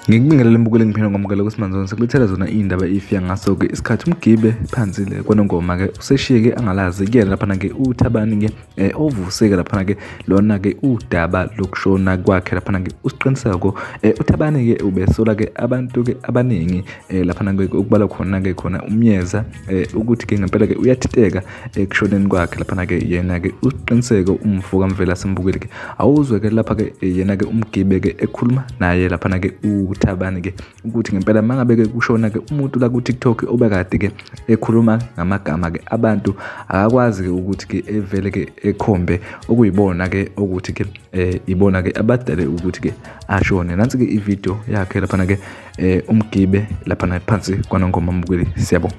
ngikubingelele mbukeli ngiphinde ngomukele kusimanzoni sekulethela zona iy'ndaba ifika ngaso-ke isikhathi umgibe phansi-le kwanongoma-ke useshiye-ke angalazi kuyena laphana-ke uthabani-ke eh ovuseke laphana ke lona ke udaba lokushona kwakhe laphana ke usiqiniseko eh uthabani ke ubesola ke abantu ke abaningi eh laphana ke ukubala khona ke khona umyeza eh ukuthi ke ngempela ke uyathiteka ekushoneni eh, kwakhe laphana ke yena ke usiqiniseko umfo kamvela simbukile ke awuzwe ke lapha ke eh, yena ke umgibe ke ekhuluma naye laphana ke uthabani ke ukuthi ngempela mangabe-ke kushona-ke umuntu la ku-tiktok obekade-ke ekhuluma ngamagama-ke abantu akakwazi-ke ukuthi-ke evele-ke ekhombe okuyibona-ke okuthi-ke um eh, ibona-ke abadale ukuthi-ke ashone nansi-ke ividiyo yakhe laphana-ke um umgibe laphana phansi kwanongoma mbukeli siyabonga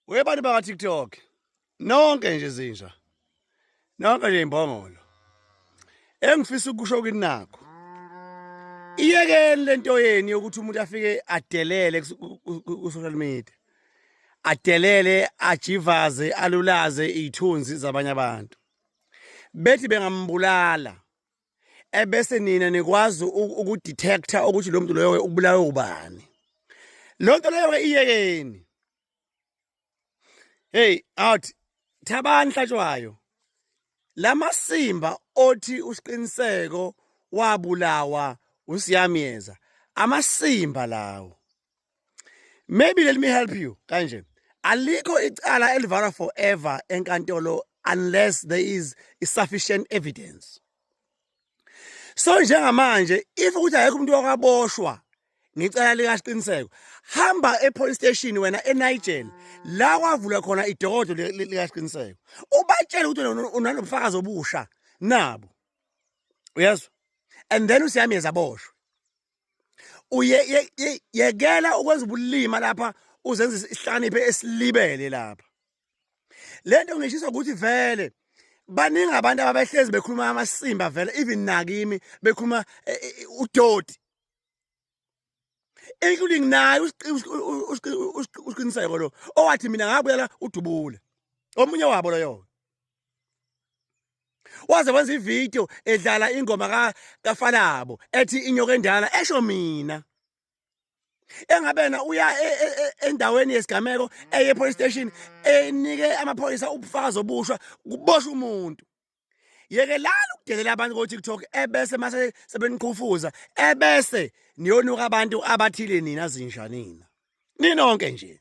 webantu baka-tiktok nonke nje zinja nonke nje imbongolo engifisa ukusho kini nakho iyekeni lento yeni yokuthi umuntu afike adelele ku-social media adelele ajivaze alulaze iy'thunzi zabanye abantu bethi bengambulala ebese nina nikwazi ukudetector ukuthi lo muntu loyo ukubulawe ubani lo nto leyo-ke iyekeni heyi awuthi thabani hlatshwayo la masimba othi usiqiniseko wabulawa usiyamyeza amasimba lawo maybe let me help you kanje alikho icala elivalwa forever enkantolo unless there is sufficient evidence so njengamanje if ukuthi akekho umuntu wakaboshwa ngicela likasiqiniseko hamba epolice station wena eNigel la kwavula khona idokodo likasiqiniseko ubatshele ukuthi unanobufakazi obusha nabo uyezwa and then usiyami ezaboshwe uyekela ukwenza ubulima lapha uzenza isihlakaniphe esilibele lapha le nto ngishisa ukuthi vele baningi abantu ababehlezi bekhuluma amasimba vele even nakimi bekhuluma eh, eh, eh, udoti including naye usiqiniseko lo owathi mina ngabuya la udubule omunye wabo loyo waze wenza ivideo edlala ingoma ka kafalabo ethi inyoka endala esho mina engabena uya e, e, e, endaweni yesigameko eye police station enike amaphoyisa ubufakazi obushwa kuboshwa umuntu yekelani ukudelela abantu ko-tiktok ebese mase sebeniqhufuza ebese niyonuka abantu abathile nina zinja nina ninonke nje